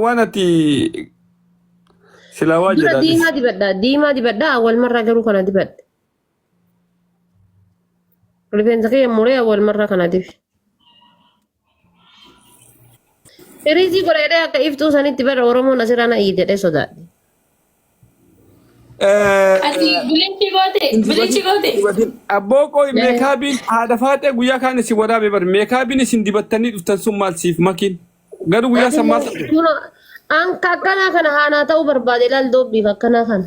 waan ati silaa waa Dura jedhaa diimaa dibadha. Diimaa dibadha. Awwal marraa garuu kana dibadha. Rifeensa kee muree awwal marraa kana dibi. Firiizii godha jedhee akka iftuu sanitti bara Oromoon asirraa na iyyi jedhee sodaadhe. Ati bilichi goote, bilichi goote. Abboo qoy meekaabiin haadha faaxee guyyaa kaan isin waraabee bari meekaabiin isin dibattanii dhuftan sun maal siif makiin garuu guyyaa san maal Kuno anka akkanaa kana haanaa ta'uu barbaade ilaal doobbiif akkanaa kana.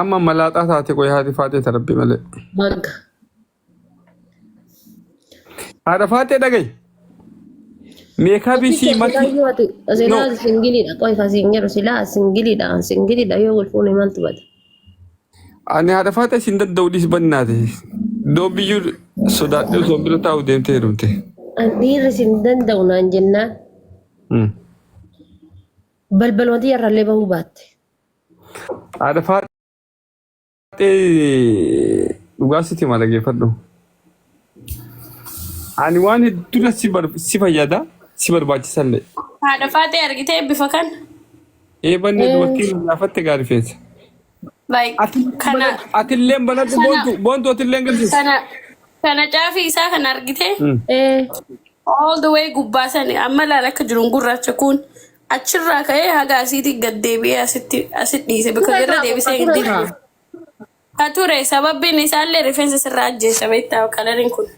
Amma malaaxaa taate qoy haati faaxee ta rabbi malee. Magga. Haadha faaxee dhagayi. Meekaabii Ofii sii kee matii. silaa yoo ati No. silaa ati singiliidha qoy kan siin jedhu silaa ati singiliidha an singiliidha yoo wal fuune maaltu bada. Ani haadha faaxee siin danda'u dhiis bannaate. Doobbiyyuu sodaadhee osoo bira taa'u deemtee heerumte. An dhiirri siin danda'u naan jennaan Hmm. balbaluma xiyyarrallee bahuu baatte. Haadha faaxee dhugaa sitti hima dhaggeeffadhu. Ani waan hedduu si bar- si fayyada si barbaachisallee. Haadha faaxee argitee bifa kan Eebanni dubartii nu gaafatte gaarii feete. like kana Atilleen banadhu Sana- boontu boontu atilleen galchis. kana kana caafii isaa kan argitee Mm. all the way gubbaa sani amma laal akka jiruun gurraacha kun Achirraa ka'ee haga asiitii gad deebi'ee asitti asit dhiise bakka Ture jirra kaa deebisee hin qoqqature kaa. deebi'u. Ka ture sababbiin isaallee rifeensa sirraa ajjeessa beektaa kalariin kun.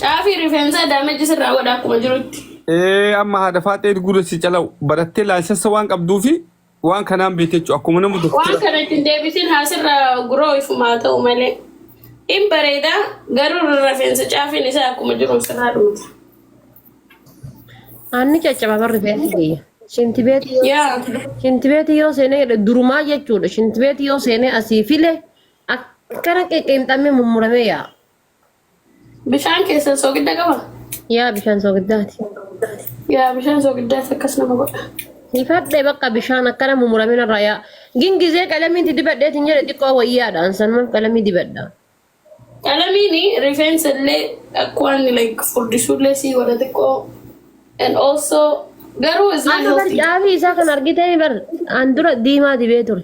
Caafii rifeensaa daameji sirraa godha akkuma jirutti. Ee amma haadha faaxee gurra si calau barattee laansessa waan qabduufi Waan kanaan beekte jechuudha. Akkuma nama waan doktara. kana ittiin deebitiin haasirra guroo ifumaa ta'u malee in bareeda garuu rafeensa caafiin isaa akkuma jiru sirraa dhumata. Aanni caccaba barri beetti biyya. Shinti beetti yoo Yaa shinti beetti yoo seenee jedhe durumaa jechuudha. Shinti beetti yoo seenee asii file akkana qeqqeemxamee mummuramee yaa. Bishaan keessan soogidda qaba? Yaa bishaan soogiddaati. Yaa bishaan soogiddaas akkas nama godha. Sifadhe bakka bishaan akkana mumuramin irraa yaa. Gin gizee qalamiin itti dibadheetiin jedhe xiqqoo wayyaadhaan san maaf qalamii dibadha. Qalamiin rifeensa illee akka waan like furdisuu illee sii godha xiqqoo. And also garuu is not Amma bar healthy. caafii isaa kan argitee bar an dura diimaa dibee ture.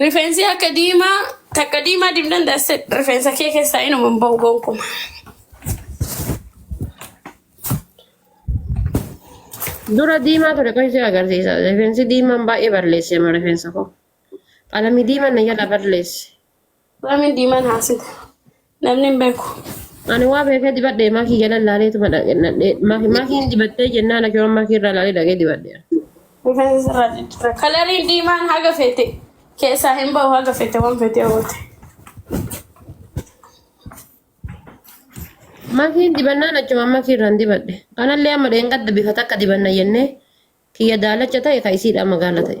Rifeensi akka diimaa takka diimaa dibdan dasse rifeensa kee keessaa inuma hin ba'u gonkuma. Dura diimaa ture kan ishee agarsiisa. Rifeensi diimaan baay'ee balleesse amma rifeensa koo. Qalamii diimaan na jala balleesse. Raamin diimaan haasita. Namni hin beeku. Ani waa beekee dibadhe maakii jala laaleetu maakiin dibattee jennaan akii waan maakii irraa laalee dhaqee dibadhe. Rifeensa sirraa jijjiirra. Kalariin diimaan haga feete keessaa hin bahu haga feete waan feete hawwate. Maakiin dibannaan achumaan maakii irraan dibadhe. Kanallee amma dheengadda bifa takka dibanna jennee kiyya daalacha ta'e ka isiidhaa magaala ta'e.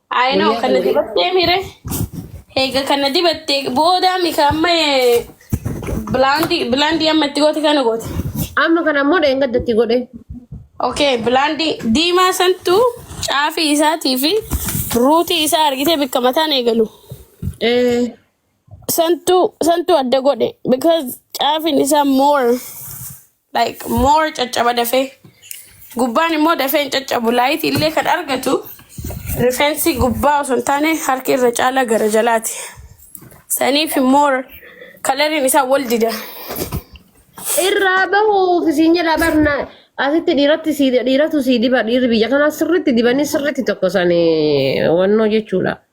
I know Guyyaa kana kana dibattee mire. Eega kana dibattee booda mika amma eh, bilaandii bilaandii amma itti goote kana goote. amma kana immoo dheengaddatti godhe. Okay, bilaandii diimaa santu caafii isaatii fi ruutii isaa argitee bakka mataan eegalu. Eh, Santu santu adda godhe because caafiin isaa more. like more caccaba dafee gubbaan immoo dafee hin caccabu laayitii illee kan argatu rifeensi gubbaa osoo hin taane harki irra caalaa gara jalaati saniif more kalariin isaa wal dida Irraa bahuuf isin jedha barna asitti dhiiratti si dhiiratu si diba dhiirri biyya kanaa sirriitti dibanii sirriitti tokkosan wannoo jechuudha.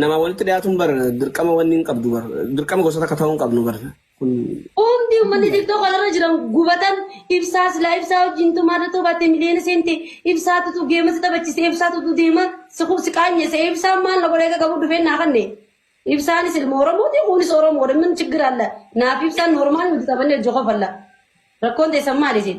Namaa walitti dhiyaatuun bar dirqama wanni hin qabdu bar dirqama gosa takka ta'uu hin qabnu bar kun Hundi uummanni TikTok kanarra jiran gubatan ibsaa silaa ibsaa wajjin tumaata tubatte miliyoona seente ibsaa tutu geema si taphachise ibsaa tutu deema si kub si qaanyese ibsaan maal na godhee qabu dhufee naa kanne. Ibsaanis ilma Oromooti kunis Oromoodha min chiggir alla naaf ibsaan normaal nuti taphannee jokofalla. Rakkoon teessan maali isin?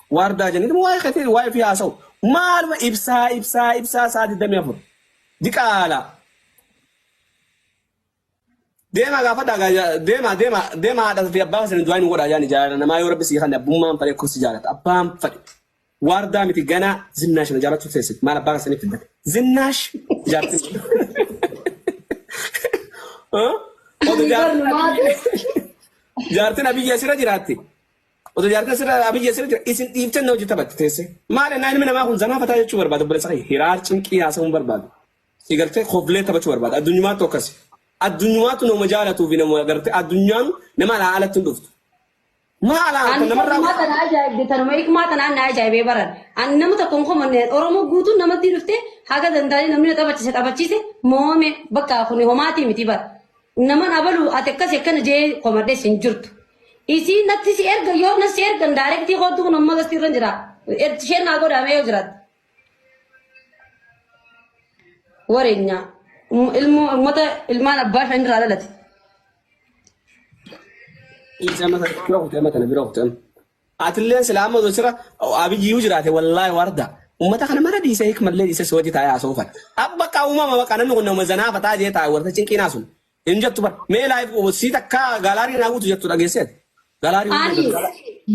Waardaa jenna. Dhuma waa'ee keetii waa'ee fi haasa'u. Maaluma ibsaa ibsaa ibsaa saa 24. Diqaala. Deemaa gaafadhaa gaa ja- deemaa deemaa deemaa haadha fi abbaa keessan du'aa hin godhaa yaani jaalala namaa yoo rabbi sii kanne abbummaan fadhe kursi jaalata abbaan fadhe. Waardaa miti ganaa zinnaash na jaalachuu teessit maal abbaa keessaniif fiddate. Zinnaash jaartin. Odu jaartin. Jaartin abiyyi asirra jiraatti. Oto jaartan sirra abiyyi asirra jira isin dhiiftan na hojii taphatti teesse. Maal ennaa ilmi namaa kun zanaa fataa jechuu barbaada obboleessa kee hiraar cinqii haasa'uun barbaada. Si gartee koflee taphachuu barbaada addunyaatu akkasi. Addunyaatu nama jaalatuu fi nama gartee addunyaan nama alaa alatti hin dhuftu. Maa alaa kan Ani namarraa kanuma tana ajaa'ibde tanuma hikmaa tanaan na ajaa'ibee baran. Ani nama tokko hin komanne Oromoo guutuun namatti dhufte haga danda'anii namni na taphachiise taphachiise moome bakka kun homaatii miti bara. Naman abalu ati akkasi akkana jee komadhes hin jirtu. Isii natti si erga yoo na si ergan daarektii kootu kun amma gasti irra jira. Erti isheen naa godhaamee yoo jiraat. Wareenyaa. Ilmoo uummata ilmaan abbaa shan irraa dhalate. Isa mata bira kutte amma tana bira kutte amma. Atilleen silaa amma osoo sira Abiyyiyuu jiraate wallaahi warda. Ummata kana mara dhiisee hikmallee dhiisee si wajji taa'ee haasa'uu fadha. Ab bakka uumama bakka namni kun nama zanaa fataa jee taa'e warta cinqiinaa sun. Hin jettu bar. Mee live sii takka gaalaarii naa guutu jettu dhageesseet. Gaalaarii guutu Ani jettu.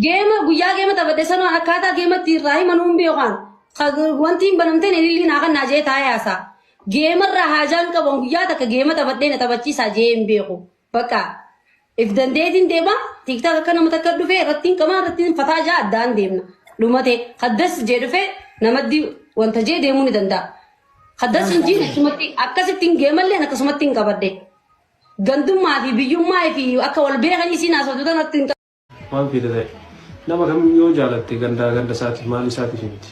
geema guyyaa geema taphadhe sanoo akkaataa geema itti irraa himan hin beekaan. Wanti hin banamteen ililliin haa kannaa jee taa'ee haasaa. Geema irraa haajaan qaban guyyaa takka geema taphadhee na taphachiisaa jee hin beeku. Bakka if dandeetiin deema tiktak akka nama takka dhufe irrattiin qamaa irrattiin fataa jaa addaan deemna dhumate haddas jee dhufe namaddi wanta jee deemuu ni danda'a. Haddas hin jiin akkasumatti akkasitti hin geemalleen akkasumatti hin qabadde. Gandummaa fi biyyummaa fi akka wal beekan isiin haasoftu tanatti hin Waan feete ta'i. Nama kamiyyuu yoo jaalatte gandaa ganda isaatiif maal isaatiif himti.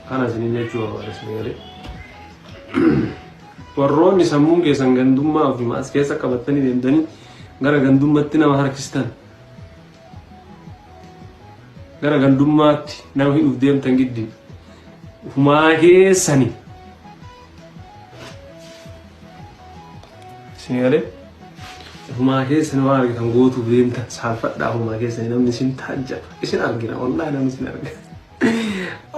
Kana isiniin jechuu barbaada sirrii galee. Warroonni sammuun keessan gandummaa ofimaa as keessa qabattanii deemtanii gara gandummatti nama harkistan. gara gandummaatti nama hidhuuf deemtan giddi ufumaa keessani isin galee ufumaa keessani waan argitan gootuuf deemtan saalfadhaa ufumaa keessani namni isin taajjaba isin argina wallahi namni isin argina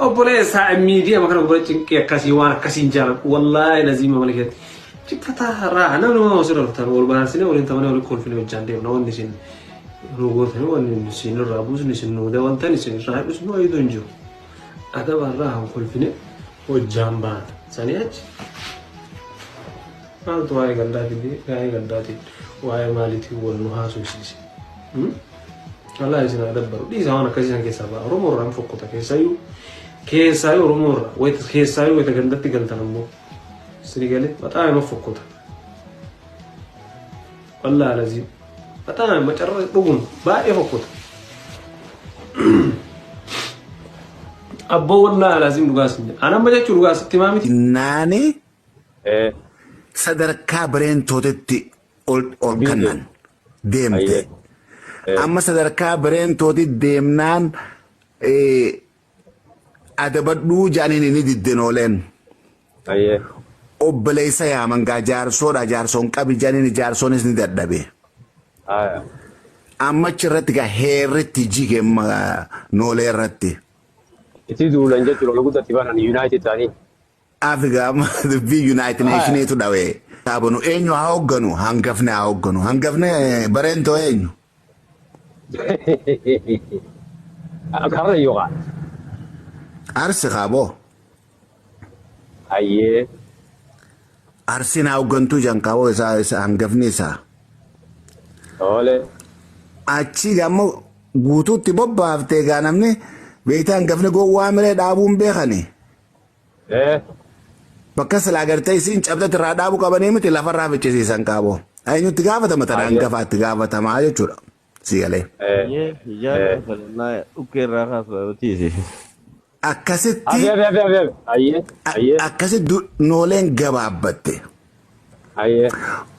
Obboleessa miidiyaa makana gubara cinqii akkasii waan akkasiin jaaladhu wallaahi laziima mana keessatti ciphataa raa namni waan osoo dhalatan wal baarsinee waliin tamanee waliin kolfinee hojjaan deemna wanni isin nu gootanii wanni isin irraa buusni isin nu dabaltan isin irraa hir'isnu wayiitu hin jiru. Adaba irraa hin kolfine hojjaan baana sanii achi maaltu waa'ee gandaatiin waa'ee gandaatiin waa'ee maaliitiin wal nu haasofsiise. Allah isin haa dabbaru. Dhiisaa waan akkasii san keessaa ba'a. Oromoo irraa hin fokkota keessaayyuu. Keessaayyuu Oromoo irraa. Wayita keessaayyuu wayita gandatti galtan ammoo. Isin galee baxaa nama fokkota. Wallah alazii. Baxaa nama macarra dhugun baay'ee fokkota. Abboo wallah alazii dhugaa isin jedha. Anamma jechuun dhugaa sitti himaa miti. Naani Eh, sadarkaa bireentootetti ol ol Deemte. kannan deemte. Ayyee. Eh. Amma sadarkaa bireentooti deemnaan eh, adabadhuu jaaniin inni didden ooleen. Ayyee. Obboleessa yaaman gaa jaarsoodha jaarsoon qabi jaaniin jaarsoonis ni dadhabe. Aya. Amma achi irratti gaa heerritti jige ma- noolee irratti. Itti duulan jechuudha. Ol guddatti banan Yuunaayitid ta'anii. Afrikaa amma dubbii Yunaayitid Haya. Neeshiniitu dhawe. Taabanu eenyu haa hoogganu? Hangafni haa hoogganu. Hangafni eh, bareentoo eenyu? Karra yookaan. Arsi kaaboo. Hayyee. Arsiin haa hooggantuu jankaaboo isaa isa hangafni isaa. Oole. Achii ammoo guutuutti bobbaaftee egaa namni beektaa hangafni gowwaa miree dhaabuun beekani. Eh. Bakka silaa gartee isiin cabxatti irraa dhaabu qabanii miti lafarraa ficcisiisan qaabo. Eenyutti gaafatama tanaan Ayyee. gafaatti gaafatamaa jechuudha. Si galee. Eh. Ayyee hijaan Eh. falannaa dhukkee irraa kaasudha nuti. Akkasitti Abi abi abi abi abi. Ayyee. a- Ayyee. akkasitti du- nooleen gabaabbatte. Ayyee.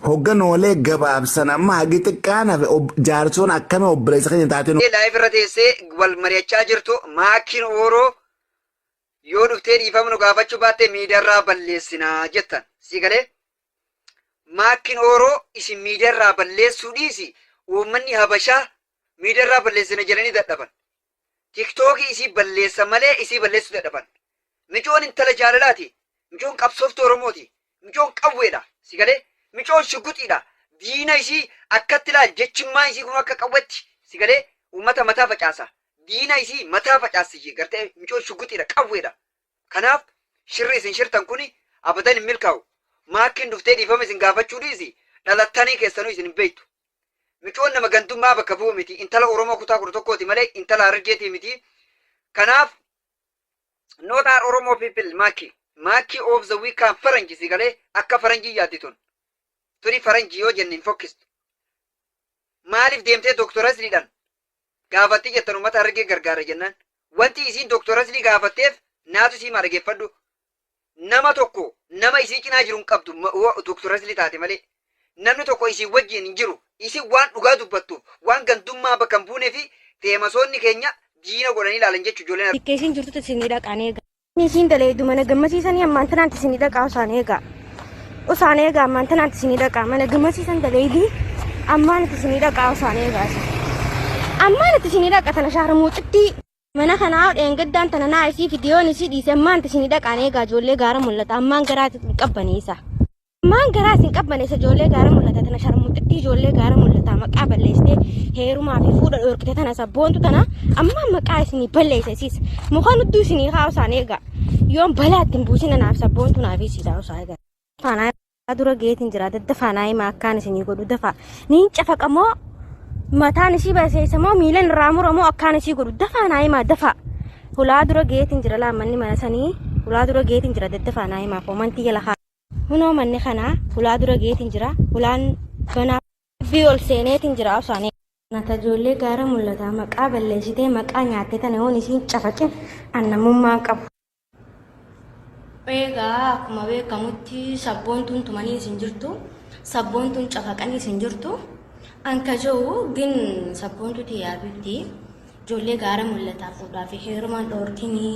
Hogga noolee gabaabsan amma hagi xiqqaan hafe ob- jaarsoon akkami obboleessa keenya taatee nu- Laayif irra teessee wal mari'achaa jirtu maakiin ooroo Yoo dhuftee dhiifama nu gaafachuu baatte miidiyaarraa balleessina jettan. Sii galee? Maakkin Ooroo isin miidiyaarraa balleessuu dhiisi uummanni Habashaa miidiyaarraa balleessina jedhanii dadhaban. Tiktookii isii balleessan malee isii balleessuu dadhaban. Micoon intala jaalalaati. Micoon qabsooftuu Oromooti. Micoon qawweedha. Si galee? Micoon shugguxiidha. Diina isii akkatti laal jechimmaa isii kunuu akka qawwetti. Si galee? Uummata mataa facaasa. Diina isii mataa facaassi garte micoon shugguxiidha qawweedha. Kanaaf shirri isin shirtan kuni abadan hin milkaa'u. Maakkiin dhuftee dhiifama isin gaafachuu dhiisi dhalattanii keessanuu isin hin beektu. Micoon nama gandummaa bakka bu'u miti. Intala Oromoo kutaa 11ti malee intala Harargeetii miti. Kanaaf not are oromo people maaki maaki of the week kan faranji si galee akka faranji yaaddi tun tuni faranji yoo jenne hin fokkistu maaliif deemtee doktor asliidhan gaafatti jettan ummata harargee gargaara jennaan wanti isiin doktor aslii gaafatteef naatu sii maa dhageeffadhu Nama tokko nama isii cinaa jiru hin qabdu ma- wo- Dr. Rasli taate malee. Namni tokko isin wajjin hin jiru. Isin waan dhugaa dubbattuuf, waan gandummaa bakka hin buunee fi feemasoonni keenya diina godhanii ilaalan jechu ijoolleen Akka isiin jirtutti isinii dhaqaan eega. Isiin daleeydu mana gammasiisanii ammaan tanaanti isinii dhaqaa osaan eegaa. Osaan eegaa ammaan tanaanti isinii dhaqaa mana gammasiisan daleeydi ammaan itti isinii dhaqaa osaan eegaa. Ammaan itti isinii dhaqa tana shaarmuuxittii. Mana kanaa dheengaddaan tana naa isii fidiyoon isii dhiise ammaan tisini dhaqaan eegaa ijoollee gaara mul'ata ammaan garaa hin qabbaneessa. Ammaan garaa isin qabbaneessa ijoollee gaara mul'ata tana sharmuxittii ijoollee gaara mul'ata maqaa balleessitee heerumaa fi fuudha dhoorkite tana sabboontu tana ammaan maqaa isinii balleessa isiis muka nudduu isinii haa osaan eegaa yoon balaa ittiin buusina naaf sabboontu naaf isiidhaa osaa eegaa. Faanaa dura geetiin jira daddafaa naa himaa akkaan isinii godhu dafaa niin cafaqa moo mataan isii baseessa moo miilan irraa mura moo akkaan isii godhu dafaa naa himaa dafaa hulaa dura geetiin jira laammanni mana sanii hulaa dura geetiin jira daddafaa naa himaa koomantii jala haa hunoo manni kanaa hulaa dura geetiin jira hulaan banaa bii ol seeneetiin jira osaanii nata ijoollee gaara mul'ataa maqaa balleessitee maqaa nyaattee tana hoon isiin cafaqin annamummaan qabu. Eegaa akkuma beekamutti sabboontuun tumanii isin jirtu, sabboontuun cafaqanii isin jirtu. Anka jiru gin sabboontuu tiyyaa bitti ijoollee gaara mul'ataa fuudhaa fi heerumaan dhoorkinii.